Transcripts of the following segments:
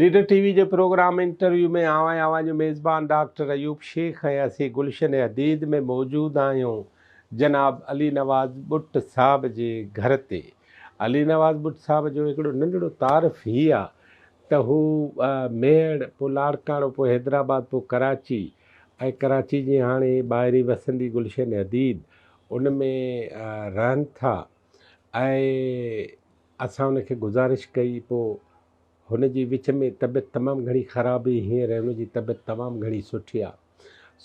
Leader T V جي programme interview ۾ آئون ۽ اوهان جو ميزبان ڊاڪٽر ايوب شيخ ۽ اسين گلشن حديد ۾ موجود آهيون جناب علي نواز ٻٽ صاحب جي گهر تي. علي نواز ٻٽ صاحب جو هڪڙو ننڍڙو تعارف هي آ ته هو ميهڙ پوء لاڙڪاڻو پوء حيدرآباد پوء ڪراچي ۽ ڪراچي جي هاڻي ٻاهرين وسندي گلشن حديد ان ۾ رهن ٿا ۽ اسان ان کي گذارش ڪئي پوء هن جي وچ ۾ طبيعت تمام گهڻي خراب هئي هينئر هن جي طبيعت تمام گهڻي سٺي آ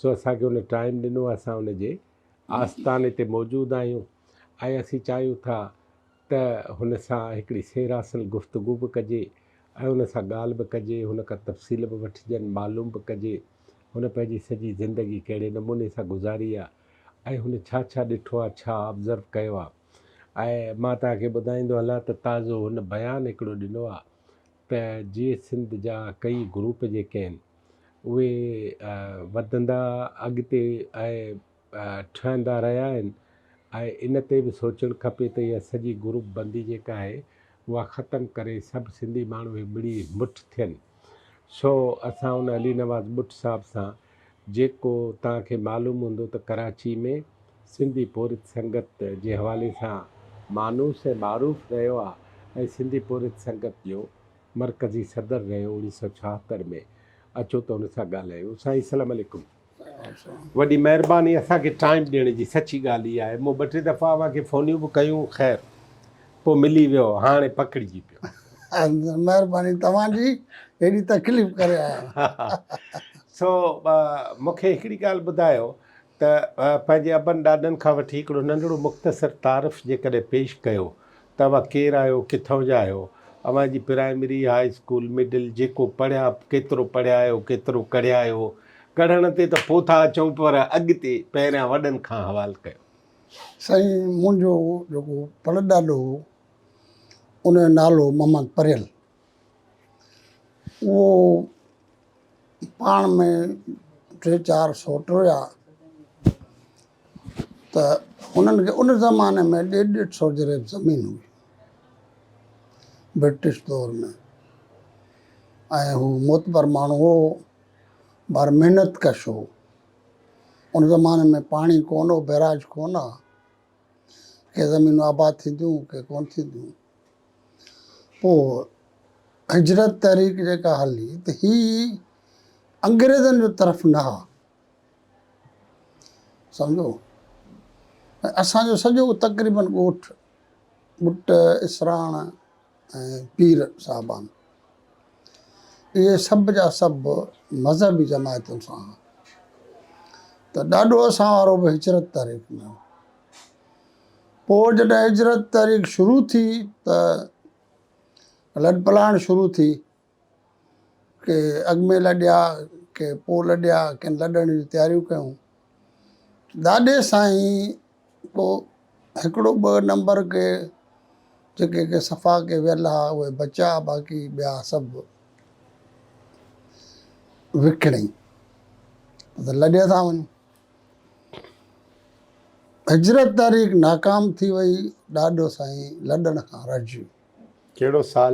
سو اسان کي هن ٽائيم ڏنو اسان هن جي آستاني تي موجود آهيون ۽ اسين چاهيون ٿا ته هن سان هڪڙي سير حاصل گفتگو به ڪجي ۽ هن سان ڳالهه به ڪجي هن کان تفصيل به وٺجن معلوم به ڪجي هن پنهنجي سڄي زندگي ڪهڙي نموني سان گذاري آ ۽ هن ڇا ڇا ڏٺو آ ڇا آبزرو ڪيو آ ۽ مان توهان کي ٻڌائيندو هلان ته تازو هن بيان هڪڙو ڏنو آ ته جي سنڌ جا ڪيئي گروپ جيڪي آهن اهي وڌندا اڳتي ۽ ٺهندا رهيا آهن ۽ ان تي به سوچڻ کپي ته اها سڄي گروپ بندي جيڪا آهي اها ختم ڪري سڀ سنڌي ماڻهو هي مڙي مٺ ٿين سو اسان هن علي نواز ٻٽ صاحب سان جيڪو توهان کي معلوم هوندو ته ڪراچي ۾ سنڌي پورهيت سنگت جي حوالي سان مانوس ۽ معروف رهيو آ ۽ سنڌي پورهيت سنگت جو مرڪزي صدر رهيو اوڻيهه سؤ ڇاهتر ۾ اچو ته ان سان ڳالهايون سائين سلام عليڪم وڏي مهرباني اسان کي ٽائيم ڏيڻ جي سچي ڳالهه هي آهي مون ٻه ٽي دفعا اوهان کي فونيون به ڪيون خير پوء ملي ويو هاڻي پڪڙجي پيو. مهرباني توهان جي هيڏي تڪليف ڪري آيا. سو مون کي هڪڙي ڳالهه ٻڌايو ته پنهنجي ابن ڏاڏن کان وٺي هڪڙو ننڍڙو مختصر تعارف جيڪڏهن پيش ڪيو ته اوهان ڪير آهيو ڪٿان جا آهيو اوهان جي پرائمري هاء اسڪول مڊل جيڪو پڙهيا ڪيترو پڙهيا آهيو ڪيترو ڪڙهيا آهيو ڪڙهڻ تي ته پوء ٿا اچون پر اڳتي پهريان وڏن کان حوال ڪيو. سائين منهنجو جيڪو پڙ ڏاڏو هو ان جو نالو هو محمد پريل اهو پاڻ ۾ ٽي چار سوٽ هيا ته انهن کي ان زماني ۾ ڏيڍ ڏيڍ سو جريب زمين هئي برٽش دور ۾ ۽ هو معتبر ماڻهو هو پر محنت ڪش هو ان زماني ۾ پاڻي ڪونه هو، بئراج ڪونه ها. ڪي زمينون آباد ٿينديون، ڪي ڪونه ٿينديون. پوء هجرت تحريڪ جيڪا هلي ته هي انگريزن جو طرف نه ها. سمجهو؟ ۽ اسان جو سڄو تقريبن ڳوٺ، ٻٽ، اسراڻ، ۽ پير صاحبان اهي سڀ جا سڀ مذهبي جماعتن سان هئا ته ڏاڏو اسان وارو به هجرت تحريڪ ۾ هو پوء جڏهن هجرت تحريڪ شروع ٿي ته لڏپلاڻ شروع ٿي ڪي اڳ ۾ لڏيا ڪي پوء لڏيا ڪن لڏڻ جون تياريون ڪيون ڏاڏي سائين پوء هڪڙو ٻه نمبر ڪي جيڪي ڪي صفا ڪي ويل ها اهي بچا باقي ٻيا سڀ وڪڻي ته لڏي ٿا وڃون هجرت تاريخ ناڪام ٿي وئي ڏاڏو سائين لڏڻ کان رجيو ڪهڙو سال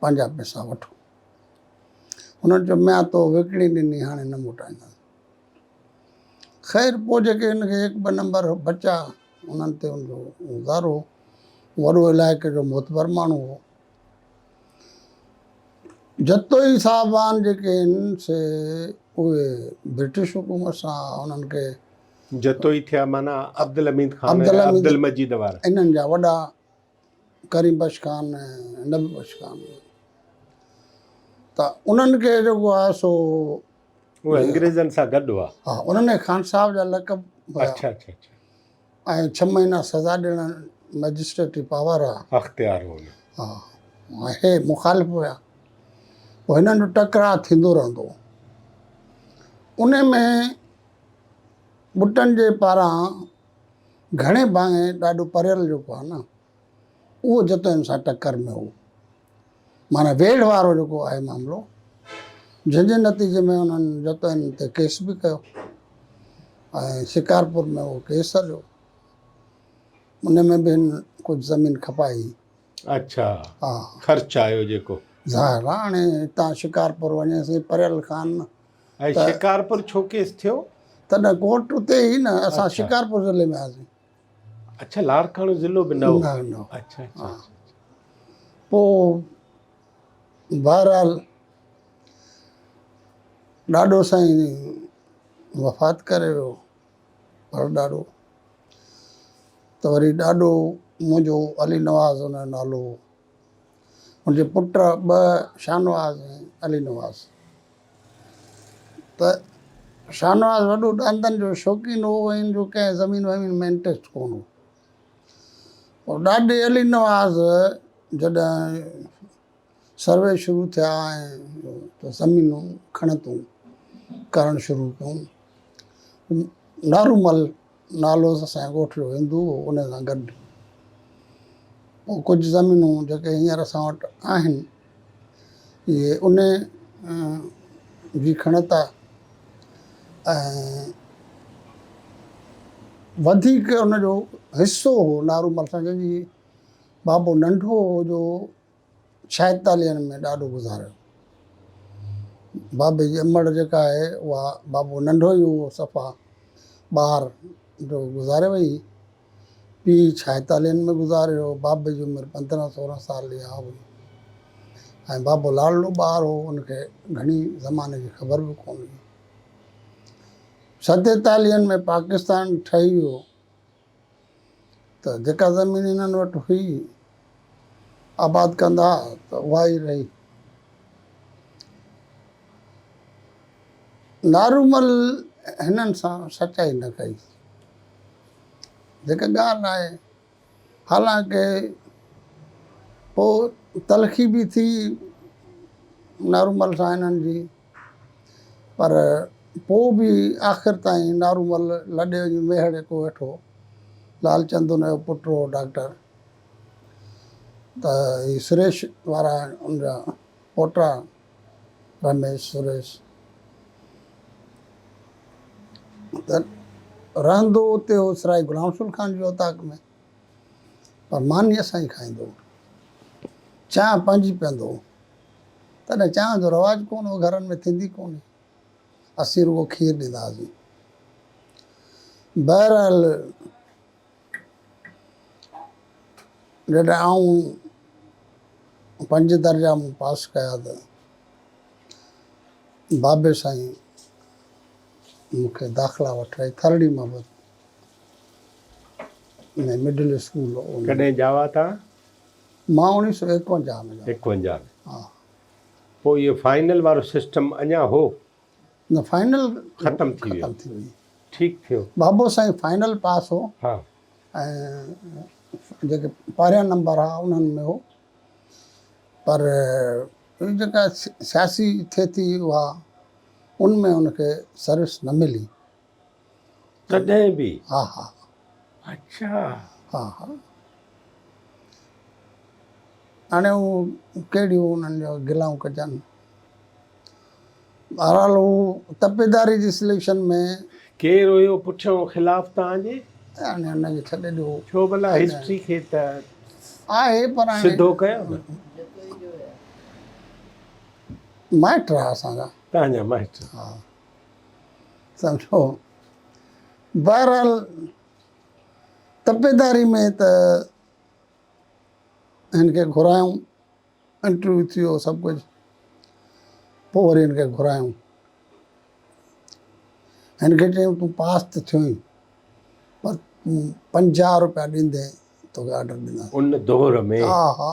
پنهنجا پئسا وٺو. هنن چيو، ميان تو وڪڻي ڏني هاڻي نه موٽائينداسين. خير پوء جيڪي هن کي هڪ ٻه نمبر بچا انهن تي هن جو گذارو هو. وڏو علائقي جو معتبر ماڻهو هو. جتوئي صاحبان جيڪي آهن سي اهي برٽش حڪومت سان انهن کي. جتوئي ٿيا معنيٰ عبدالحميد خان ۽ عبدالمجيد وارا. انهن جا وڏا. ڪريم بخش خان ۽ نبي بخش خان ته انهن کي جيڪو آهي سو اهي انگريزن سان گڏ هئا ها انهن کي خان صاحب جا لقب هيا اڇا اڇا اڇا ۽ ڇهه مهينا سزا ڏيڻ مئجسٽريٽي پاور هئا اختيار هو انهن ها اهي مخالف هيا پوء هنن جو ٽڪراء ٿيندو رهندو هو ان ۾ ٻٽن جي پاران گهڻي ڀانئي ڏاڍو پريل جيڪو آهي نه اهو جتوئن سان ٽڪر ۾ هو. معنيٰ ويڙهه وارو جيڪو آهي معاملو جنهن جي نتيجي ۾ انهن جتوئن تي ڪيس به ڪيو ۽ شڪارپور ۾ اهو ڪيس هليو ان ۾ به هن ڪجهه زمين کپائي هئي. اڇا خرچ آيو جيڪو. ظاهر آهي هاڻي هتان شڪارپور وڃي سائين پريل خان ۽ شڪارپور ڇو ڪيس ٿيو؟ تڏهن ڪورٽ اتي هئي نه اسان شڪارپور ضلعي ۾ هئاسين. اڇا لاڙڪاڻو ضلعو به نه هو. نه نه اڇا اڇا پو بهرحال ڏاڏو سائين وفات ڪري ويو پر ڏاڏو ته وري ڏاڏو منهنجو علي نواز هن جو نالو هو. هن جي پٽ ٻه شاهنواز ۽ علي نواز ته شاهنواز وڏو ڏاندن جو شوقين هو ۽ هن جو ڪنهن زمين ومين ۾ انٽريسٽ ڪونه هو پر ڏاڏي علي نواز جڏهن سروي شروع ٿيا ۽ زمينون کڻتون ڪرڻ شروع ڪيون نارو مل نالو ته سائين ڳوٺ جو هندو هو ان سان گڏ پوء ڪجهه زمينون جيڪي هينئر اسان وٽ آهن اهي ان جي کڻت آهي ۽ وڌيڪ ان جو حصو هو نارو مل سان جنهن جي بابو ننڍو هو جو ڇائيتاليهن ۾ ڏاڏو گذاريو. بابي جي امڙ جيڪا آهي اها بابو ننڍو ئي هئو صفا ٻار جو گذاري وئي. پيء ڇائيتاليهن ۾ گذاريو. بابي جي عمر پندرهن سورهن سال جي آ هئي ۽ بابو لاڙلو ٻار هئو ان کي گهڻي زماني جي خبر به ڪونه هئي. ستيتاليهن ۾ پاڪستان ٺهي ويو. ته جيڪا زمين هنن وٽ هئي آباد ڪندا ته اها ئي رهي. نارومل هنن سان سچائي نه ڪئي. جيڪا ڳالهه آهي حالانڪه پوء تلخي به ٿي نارومل سان هنن جي. پر پوء به آخر تائين نارومل لڏي وڃي ميهڙي ڪو ويٺو. لالچند ان جو پٽ هو ڊاڪٽر. ته هي سريش وارا ان جا پوٽا رميش سريش. ته رهندو اتي هو سرائي غلام رسول خان جي اوطاق ۾. پر ماني اسان جي کائيندو هو. چانهه پنهنجي پيئندو هو. تڏهن چانهه جو رواج ڪونه هو، گهرن ۾ ٿيندي ڪونه هئي. اسين رڳو کير ڏيندا هئاسين. بهرحال جڏهن آئون پنج درجا مون پاس ڪيا ته بابي سائين مون کي داخلا وٺرائي ٿرڙي محبت ۾ مڊل اسڪول. ڪڏهن ڄاوا ٿا؟ مان اوڻيھ سؤ ايڪونجاھ ۾ ڄاڻايو. ايڪونجاھ ۾ ھا. پوء اھو فائنل وارو سسٽم اڃا ھو؟ نه فائنل ختم ٿي ويو. ٺيڪ ٿيو. بابو سائين فائنل پاس ھو. ھا. ۽ جيڪي پھريان نمبر ھئا انھن ۾ ھو. پر ھي جيڪا سياسي ٿي ٿي اھا ان ۾ ھن کي سروس نه ملي. تڏهن به ها ها اچھا ها ها هاڻي هو ڪهڙيون انهن جو گلائون ڪجن بهرحال هو تپيداري جي سليڪشن ۾ ڪير هيو پٺيان خلاف توهان جي هاڻي هن کي ڇڏي ڏيو ڇو ڀلا هسٽري کي ته آهي پر هاڻي سڌو ڪيو نه مائٽ رها اسان جا توهان جا مائٽ ها سمجهو بهرحال تپيداري ۾ ته هن کي گهرايون انٽرويو ٿيو سڀ ڪجهه پوء وري هن کي گهرايون هن کي چيو تون پاس ته ٿيو آهين پر تون پنجاهه روپيا ڏيندين توکي آرڊر ڏينداسين ان دور ۾ ها ها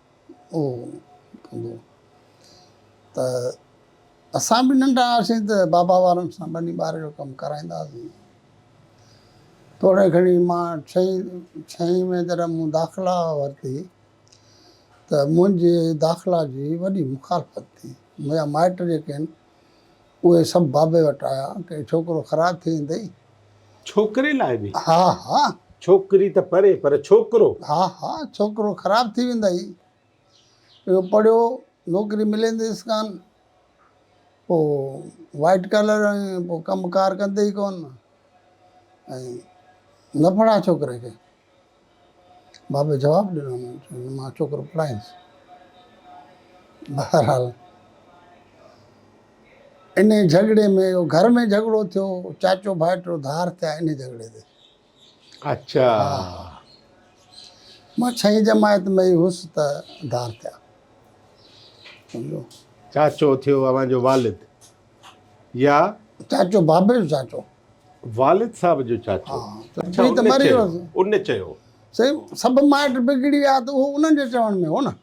ته اسان به ننڍا هئاسين ته بابا وارن سان ٻني ٻاري جو ڪم ڪرائيندا هئاسين توڙي گهڻي مان ڇهين ڇهين ۾ جڏهن مون داخلا ورتي ته منهنجي داخلا جي وڏي مخالفت ٿي منهنجا مائٽ جيڪي آهن اهي سڀ بابي وٽ آيا ڪي ڇوڪرو خراب ٿي ويندئي. ڇوڪري لاء به؟ ها ها. ڇوڪري ته پري پر ڇوڪرو؟ ها ها ڇوڪرو خراب ٿي ويندئي. اهو پڙهيو نوڪري ملينديس ڪانه. پوء وائيٽ ڪالر ۽ پوء ڪم ڪار ڪندي ئي ڪونه ۽ نه پڙهاء ڇوڪري کي. بابي جواب ڏنو چيائين مان ڇوڪرو پڙهائينس بهرحال ان جهڳڙي ۾ اهو گهر ۾ جهڳڙو ٿيو چاچو ڀائٽو ڌار ٿيا ان جهڳڙي تي اچا مان ڇهين جماعت ۾ ئي هوس ته ڌار ٿيا سمجھو چاچو ٿيو اوهان جو والد يا چاچو بابي جو چاچو والد صاحب جو چاچو ان چيو سائين سڀ مائٽ بگڙي ويا ته اهو انهن جي چوڻ ۾ هو نه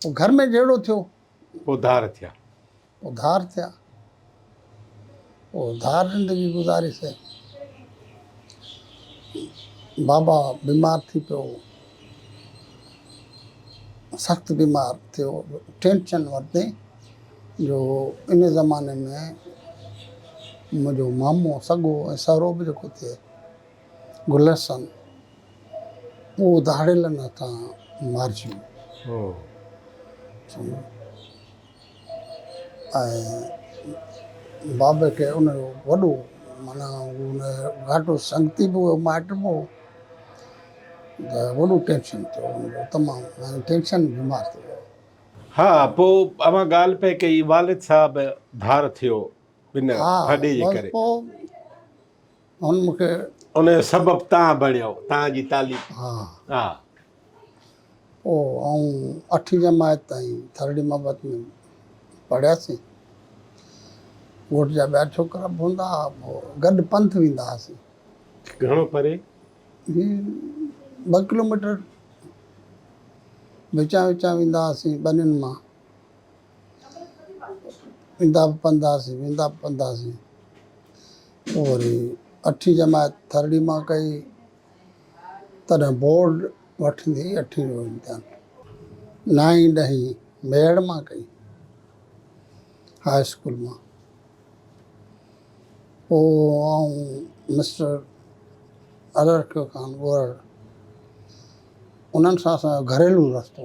پوء گهر ۾ جهيڙو ٿيو پوء ڌار ٿيا پوء ڌار ٿيا پوء ڌار زندگي گذاري سائين بابا بيمار ٿي پيو سخت بيمار ٿيو ٽينشن ورتي جو ان زماني ۾ منهنجو مامو سڳو ۽ سهرو به جيڪو ٿئي گل حسن اهو ڌاڙيلن هٿان مارجي ويو ۽ بابي کي ان جو وڏو معنيٰ ان جو گهاٽو سنگتي به هو مائٽ به هو ته وڏو ٽينشن ٿيو ان جو تمام معنيٰ ٽينشن بيمار ٿي ويو ها پوء اوهان ڳالهه پئي ڪئي والد صاحب ڌار ٿيو ان ڀاڏي جي ڪري. هن مون کي ان جو سبب تان بڻيو تان جي تعليم ها ها او آئون اٺي جماعت تائين ٿرڙي محبت ۾ پڙهياسين ڳوٺ جا ٻيا ڇوڪرا به هوندا ها پوء گڏ پنٿ ويندا هئاسين گهڻو پري هي ٻه ڪلوميٽر وچان وچان ويندا هئاسين ٻنين مان ويندا به پنڌاسين ويندا به پنڌاسين پوء وري اٺين جماعت ٿرڙي مان ڪئي تڏهن بورڊ وٺندي اٺين جو امتحان نائين ڏهين ميڙ مان ڪئي هاء اسڪول مان پوء آئون مسٽر ارڙڪيو خان ڳوهڙ انهن سان اسان جو گهريلو رستو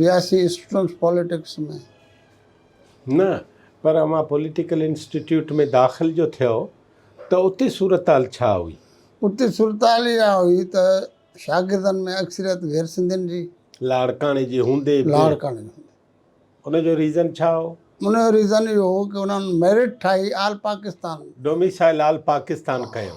وياسي اسٽوڊنٽس پوليٽڪس ۾. نه پر اوهان پوليٽيڪل انسٽيٽيوٽ ۾ داخل جو ٿيو ته اتي صورتحال ڇا هئي؟ اتي صورتحال اها هئي ته شاگردن ۾ اڪثريت غير سنڌين جي. لاڙڪاڻي جي هوندي به. لاڙڪاڻي جي هوندي. ان جو ريزن ڇا هو؟ ان جو ريزن اهو هو ڪه انهن ميرٽ ٺاهي all Pakistan. Domicile all Pakistan ڪيو.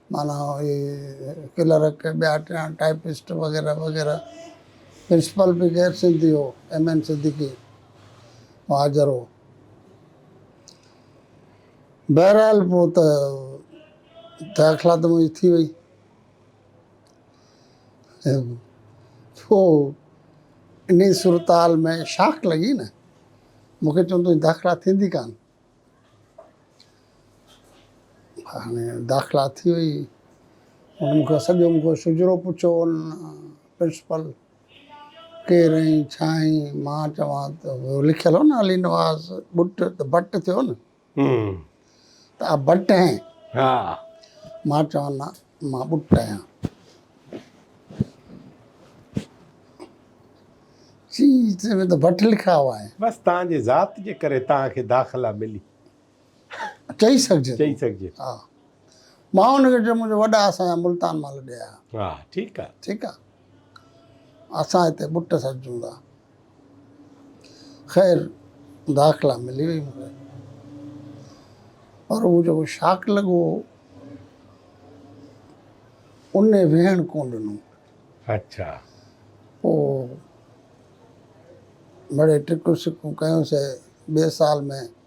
معنيٰ اهي ڪلرڪ ٻيا ٽيا ٽائيپسٽ وغيره وغيره پرنسپل به غير سنڌي هو ايم اين صديقي مهاجر هو بهرحال پوء ته داخلا ته منهنجي ٿي وئي پوء انهي صورتحال ۾ شاخ لڳي نه مونکي چون تنهنجي داخلا ٿيندي ڪانه هاڻي داخلا ٿي وئي. هن مون کان سڄو مون کان شجرو پڇيو هن پرنسپل ڪير آهين ڇا آهين مان چوان ته اهو لکيل هو نه علي نواز ٻٽ ته ڀٽ ٿيو نه ته آ ڀٽ هين مان چوان نه مان ٻٽ آهيان. چي چي ۾ ته بٽ لکاء آهي. بس تان جي ذات جي ڪري تان کي داخلا ملي. چئي سگهجي چئي سگهجي ها مان ان کي چيو منهنجو وڏا اسان جا ملتان مان لڏي آيا. ها ٺيڪ آ ٺيڪ آ. اسان هتي ٻٽ سڏجون ٿا. خير داخلا ملي وئي مون کي. پر هو جيڪو شاڪ لڳو هو، ان ويهڻ ڪونه ڏنو. اڇا. پوء مڙيئي ٽڪون سڪون ڪيون سي ٻئي سال ۾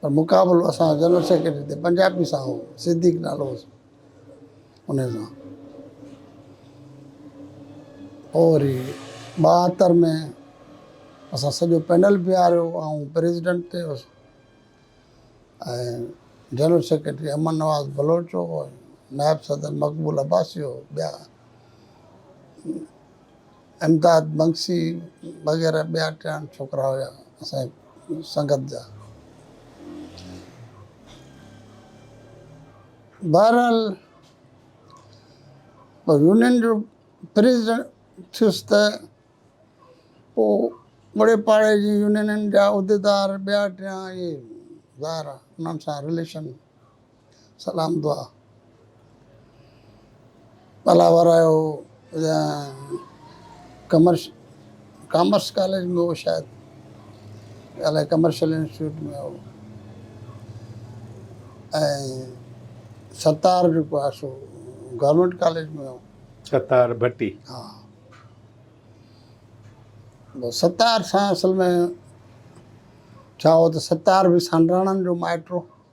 پر مقابلو اسان جي جنرل سيڪريٽري تي پنجابي سان هو، صديق نالو هوس انهي سان. پوء وري ٻاهتر ۾ اسان سڄو پينل بيهاريو، آئون پريزيڊنٽ تي هوس ۽ جنرل سيڪريٽري امن نواز بلوچ هو ۽ نائب صدر مقبول عباسي هو، ٻيا. امداد بنگسي وغيره ٻيا ٽيا ڇوڪرا هيا اسان جي سنگت جا. بهرحال يونين جو پريزيڊنٽ ٿيس ته پوء اوڙي پاڙي جي يونينن جا عهديدار ٻيا ٽيا اهي ظاهر آهي انهن سان رليشن سلام دعا ڀلا ورايو يا ڪمرش ڪامرس ڪاليج ۾ هو شايد الائي ڪمرشل انسٽيٽيوٽ ۾ هو ۽ ستار جيڪو آهي سو گورنمينٽ ڪاليج ۾ هو ستار ڀٽي ها ستار سان اصل ۾ ڇا هو ته ستار به سانڊراڻن جو مائٽ هو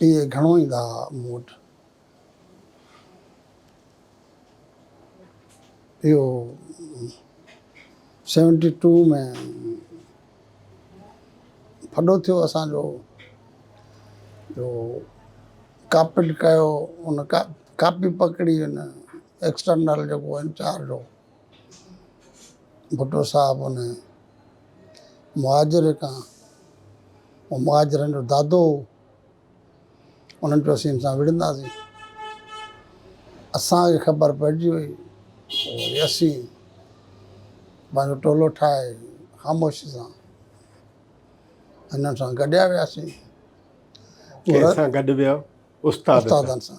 اهي گهڻو ايندا ها مون وٽ. اهو سيونٽي ٽو ۾ ڦڏو ٿيو اسان جو جو ڪاپٽ ڪيو ان ڪاپي پڪڙي ان ايڪسٽرنل جيڪو انچارج هو ڀٽو صاحب ان مهاجر کان هو مهاجرن جو دادو هو انهن چيو اسين سان وڙهنداسين اسانکي خبر پئجي وئي وري اسين پنهنجو ٽولو ٺاهي خاموشي سان هنن سان گڏيا وياسين ڪنهن سان گڏ ويا استادن سان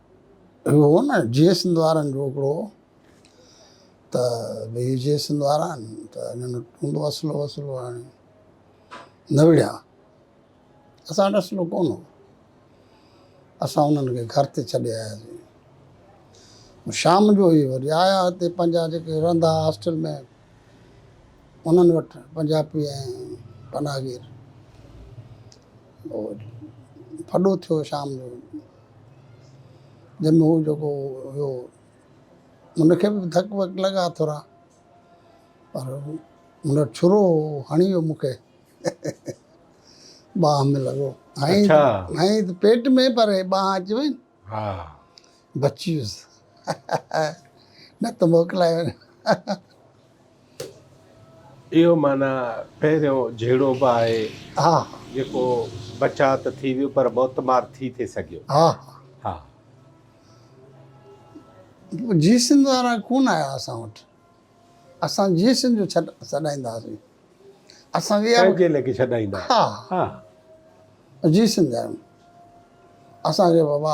اهو هو نه جي سنڌ وارن جو هڪڙو ته ڀي جي سنڌ وارا آهن ته انهن وٽ هوندو اسلحو وسلحو هاڻي نه وڙهيا اسان وٽ اسلحو ڪون هو اسان انهن کي گهر تي ڇڏي آياسين شام جو هي وري آيا هتي پنهنجا جيڪي رهندا هئا هاسٽل ۾ انهن وٽ پنجابي ۽ پناهگير ڦڏو ٿيو شام جو جنهن ۾ هو جيڪو هيو ان کي به ڌڪ وڪ لڳا ٿورا پر هن وٽ ڇرو هو هڻي ويو مون کي ٻانهن ۾ لڳو هائين اڇا. هائين ته پيٽ ۾ پر هي ٻانهن اچي وئي ها بچي ويس نه ته موڪلائي وڃ اهو معنيٰ پهريون جهيڙو به آهي جيڪو بچاء ته ٿي ويو پر موت مار ٿي ٿي سگهيو. ها ها. جي سنڌ وارا ڪونه آيا اسان وٽ اسان جي سنڌ جو ڇڏ سڏائيندا هئاسين اسان کي پنهنجي ليکي سڏائيندا ها ها جي سنڌ آهيون اسان کي بابا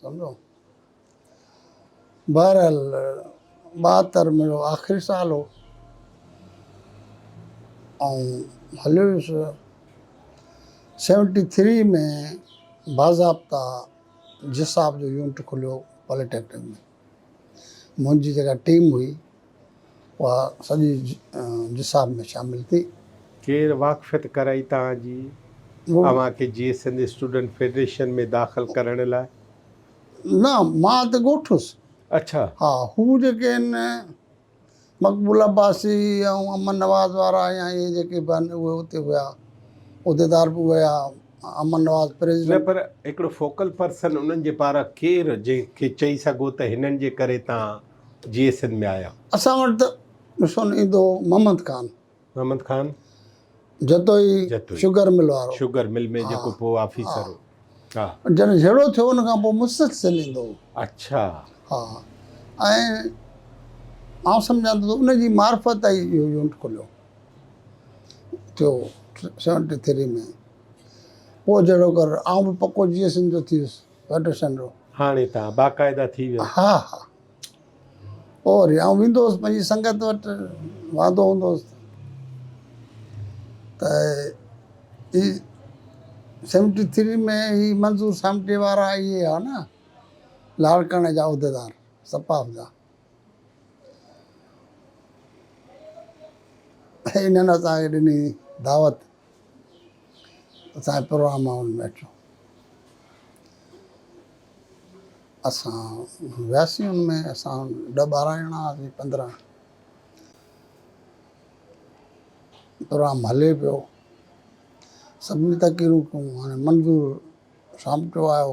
سمجهو بهرحال ٻاهتر منهنجو آخري سال هو آئون هليو ويس سيونٽي ٿري ۾ باضابطا جساب جو يونٽ کليو پاليٽيڪنڪ ۾ منهنجي جيڪا ٽيم هئي اها سڄي جساب ۾ شامل ٿي. کير واقفيت ڪرائي تان جي اوهان کي جيئي سنڌ اسٽوڊنٽ فيڊريشن ۾ داخل ڪرڻ لاء. نه مان ته ڳوٺ هوس. اڇا. ها هو جيڪي آهن مقبول عباسي ۽ امن نواز وارا يا اهي جيڪي به آهن اهي اتي هيا عهديدار به هيا امن نواز پريزيڊنٽ. نه پر هڪڙو فوڪل پرسن انهن جي پاران ڪير جنهن کي چئي سگهو ته هنن جي ڪري تان. جيئي سنڌ ۾ آيا. اسان وٽ ته مشن ايندو هو محمد خان. محمد خان. جتوئي جتوئي. شگر مل وارو. شگر مل ۾ جيڪو پوء آفيسر هو. ها. جڏهن جهيڙو ٿيو ان کان پوء مسلسل ايندو هو. اڇا. ها. ۽ آئون سمجهان ٿو ته ان جي معرفت تائين اهو يونٽ کليو. ٿيو سيونٽي ٿري ۾. پوء جهڙو ڪر آئون به پڪو جيئي سنڌ جو ٿي ويس. وٽ سنرو. هاڻي تان باقاعده ٿي ويو. ها ها اور يا آئون ويندو هوس پنهنجي سنگت وٽ واندو هوندو هوس ته هي سيونٽي ٿري ۾ هي منظور سامٽي وارا اهي هئا نه لاڙڪاڻي جا عهديدار سپاف جا انهن اسان کي ڏني دعوت اسان جي پروگرام مان انهن ميٽرن اسان وياسين ان ۾ اسان ڏهه ٻارهن ڄڻا هئاسين پندرهن پروگرام هلي پيو سڀني تقريرون ڪيون هاڻي منظور سامٽو آيو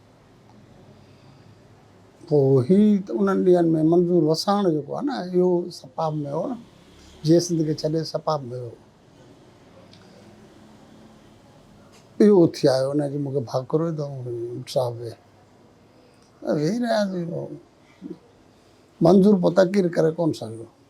پوء هي انهن ڏينهن ۾ منظور وساڻ جيڪو آهي نه اهو سپاهه ۾ هو نه جيئي سنڌ کي ڇڏي سپاهه ۾ ويو اهو اٿي آيو انهن چيو مون کي ڀاڪرو ئي ڏئو منظور صاحب ويهه ويهي رهياسين منظور پوء تقرير ڪري ڪونه سگهيو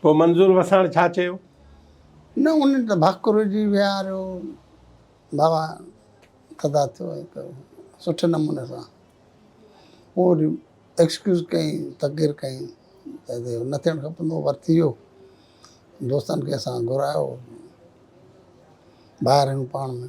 پوء منظور وساڻ ڇا چيو؟ نه ان ته ڀاڪر جي ويهاريو بابا تدا ٿيو هڪ سٺي نموني سان پوء وري ايڪسڪيوز ڪيائين تقرير ڪيائين ته نه ٿيڻ کپندو هو پر ٿي ويو دوستن کي اسان گهرايو ٻاهر آهيون پاڻ ۾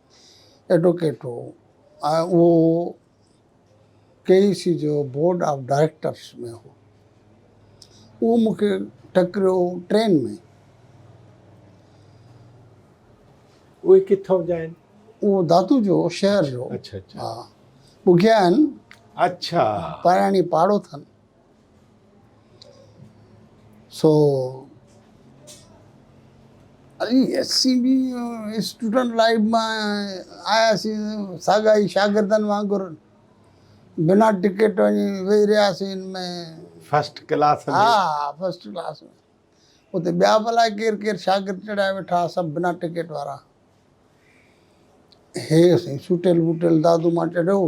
ايڊووڪيٽ هو ۽ اهو ڪي اي سي جو بورڊ آف ڊائريڪٽرس ۾ هو. اهو مون کي ٽڪريو ٽرين ۾. اهي ڪٿان جا آهن؟ اهو دادو جو شهر جو. اڇا اڇا. ها ٻگهيا آهن. اڇا. پراڻي پاڙو اٿن. سو Ali S C B student life مان آياسين ساڳا ئي شاگردن وانگر بنا ٽڪيٽ وڃي ويهي رهياسين ان ۾ فرسٽ ڪلاس ۾ ها ها فرسٽ ڪلاس ۾ اتي ٻيا به الاء ڪير ڪير شاگرد چڙهيا ويٺا سڀ بنا ٽڪيٽ وارا هي سائين سوٽيل ٻوٽيل دادو مان چڙهيو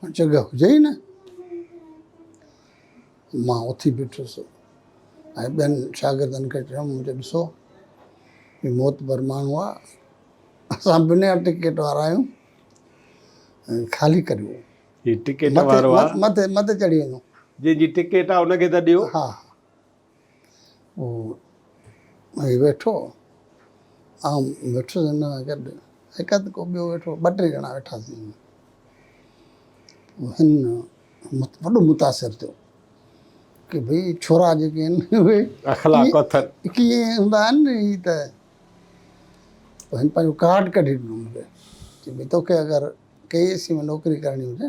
هو جڳهه هجئي نه. مان اٿي بيٺس ۽ ٻين شاگردن کي چيم منهنجو ڏسو هي معتبر ماڻهو آ اسان بنا ٽڪيٽ وارا آهيون خالي ڪريو هي ٽڪيٽ وارو آ مٿي مٿي چڙهي وڃو جنهن جي ٽڪيٽ آ ان کي ته ڏيو ها هو ائين ويٺو، آئون ويٺس هن سان گڏ، هڪ هنڌ ڪو ٻيو ويٺو هو، ٻه ٽي ڄڻا ويٺاسين. هن وڏو متاثر ٿيو ڪي ڀئي ڇورا جيڪي آهن اهي اخلاق اٿن ڪيئن هوندا آهن هي ته پوء هن پنهنجو ڪارڊ ڪڍي ڏنو مون کي چي ڀئي توکي اگر ڪي اي سي ۾ نوڪري ڪرڻي هجي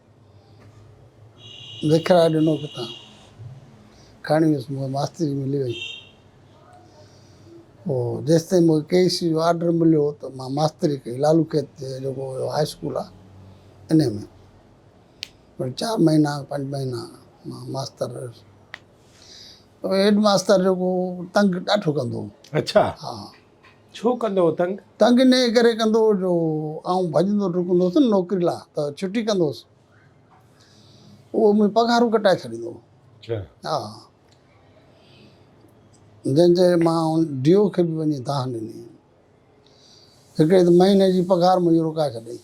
وکرائي ڏنو ڪٿان، کڻي ويس مون کي ماستري ملي وئي. پوء جيستائين مون کي ڪي سي جو آرڊر مليو ته مان ماستري ڪئي لالو کيت تي جيڪو هيو هاء اسڪول آهي انهي ۾ پر چار مهينا پنج مهينا مان ماستر رهيس. هيڊ ماستر جيڪو هو تنگ ڏاڍو ڪندو هو. اڇا. ها. ڇو ڪندو هو تنگ؟ تنگ ان ڪري ڪندو هو جو آئون ڀڄندو ڊڪندو هوس نه نوڪري لا ته ڇٽي ڪندو هوس اهو منهنجون پگهارون ڪٽائي ڇڏيندو هو. اڇا. ها جنهن چي مان ڊي او کي به وڃي دانهن ڏني هڪڙي ته مهيني جي پگهار منهنجي روڪائي ڇڏيائين.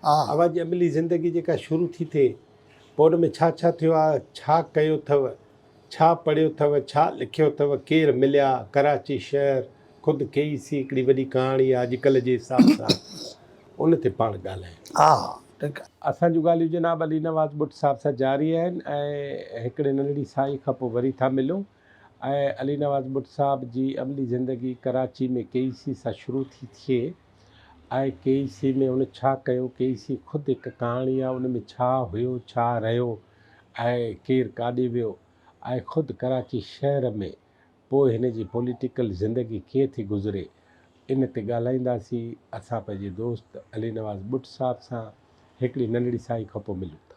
آ. اوهان جي عملي زندگي جيڪا شروع ٿي ٿئي، پوء ان ۾ ڇا ڇا ٿيو آ، ڇا ڪيو ٿئو، ڇا پڙهيو ٿئو، ڇا لکيو ٿئو، ڪير مليا، ڪراچي شهر، خود ڪي اي سي هڪڙي وڏي ڪهاڻي آ، اڄڪلهه جي حساب سان ان تي پاڻ ڳالهايون. آ. ٺيڪ آ. اسان جون ڳالهيون جناب علي نواز ٻٽ صاحب سان جاري آهن ۽ هڪڙي ننڍڙي ساهي کان پوء وري ٿا ملون. ۽ علي نواز ٻٽ صاحب جي عملي زندگي ڪراچي ۾ ڪي اي سي سان شروع ٿي ٿئي ۽ ڪي اي سي ۾ هن ڇا ڪيو، ڪي اي سي خود هڪ ڪهاڻي آهي ان ۾ ڇا هيو، ڇا رهيو ۽ ڪير ڪاڏي ويو ۽ خود ڪراچي شهر ۾ پوء هن جي پوليٽيڪل زندگي ڪيئن ٿي گذري ان تي ڳالهائينداسين اسان پنهنجي دوست علي نواز ٻٽ صاحب سان. هڪڙي ننڍڙي سائي کان پوء ملون ٿا.